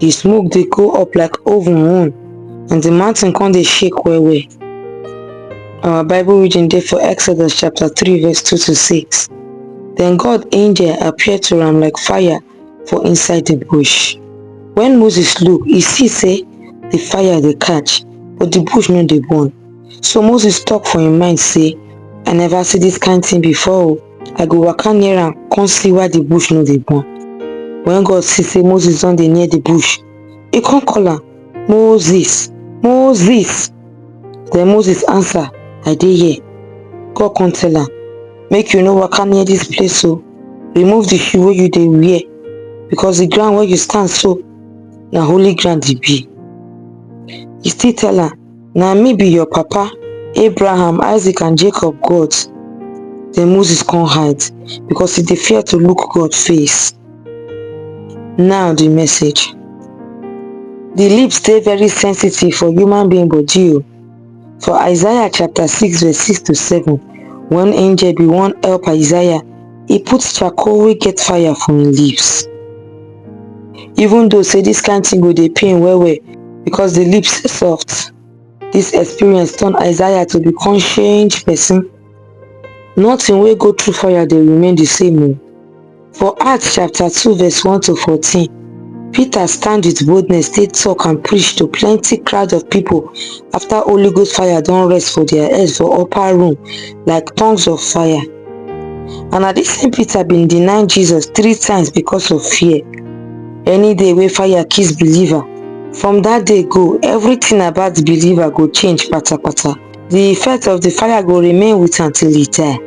the smoke dey go up like oven own and the mountain come dey shake well well our bible reading dey for exodus chapter 3 verse 2 to 6 then god angel appear to am like fire for inside the bush when moses look he see say the fire dey catch but the bush no dey burn So Moses talk for him mind say, I never see this kind thing before o. I go waka near am come see why the bush no dey burn. When God see say Moses don dey near the bush, he come call am, Moses, Moses. Then Moses answer, I dey here. God come tell am, make you no waka near this place o. Remove the shoe wey you dey wear because the ground where you stand so na holy ground e be. He still tell am, Na me be your papa, Abraham, Isaac and Jacob God. Then Moses come hide because he dey fear to look God face. Now the message. The lips dey very sensitive for human being body o. For Isaiah chapter 6 verse 6 to 7, one angel bin wan help Isaiah e put charcoal wey get fire for im lips even though say dis kain tin go dey pain well well because di lips soft. Dis experience turn Isaiah to become changed pesin. Nothing wey go through fire dey remain di same o. For Acts chapter two verse one to fourteen Peter stand with boldness take talk and preach to plenty crowd of people after Holy Ghost fire don rest for their heads for upper room like tongues of fire. And na this same Peter been deny Jesus three times because of fear. Any day wey fire kiss believer, from that day go, everything about the believer go change patapata. the effect of the fire go remain with am till e die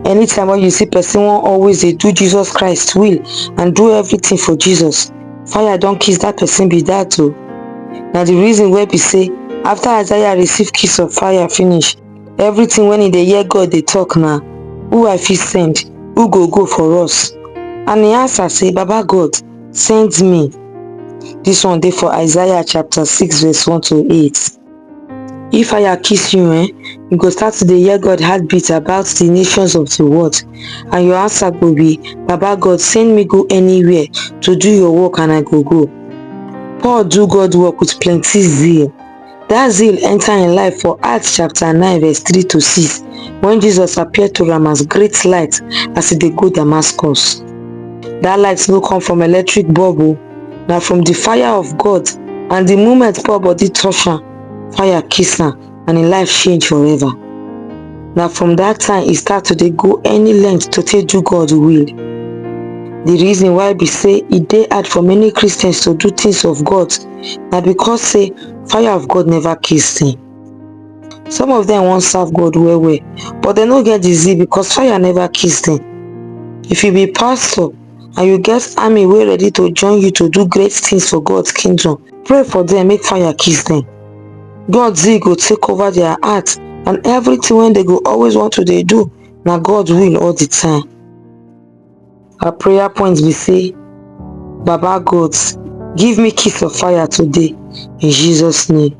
anytime when you see person wan always dey do jesus christ will and do everything for jesus fire don kiss that person be that o na the reason wey be say after isaiah receive kiss of fire finish everything when he dey hear god dey talk na who i fit send who go go for us and he answer say baba god send me this one dey for isaiah chapter 6 verse 1 to 8 If fire kiss you, eh, you go start to dey hear God heartbeat about the nations of the world. And your answer go be, Baba God, send me go anywhere to do your work and I go go. Paul do God work with plenty zeal. That zeal enter in life for Acts chapter 9 verse 3 to 6 when Jesus appeared to him as great light as he dey go Damascus. That light no come from electric bulb oh. na from the fire of God and the moment Paul body touch am, fire kiss am and im life change forever. Na from that time e start to dey go any length to take do God will. The reason why be say e dey hard for many Christians to do things of God na because say fire of God never kiss them. Some of them wan serve God well well but dem no get the zeal because fire never kiss them. If you be pastor, and you get army wey ready to join you to do great things for God's kingdom, pray for them make fire kiss them. God zeal go take over their heart and everything when they go always want to they do na God will all the time. Our prayer point be say, Baba God, give me kiss of fire today in Jesus name.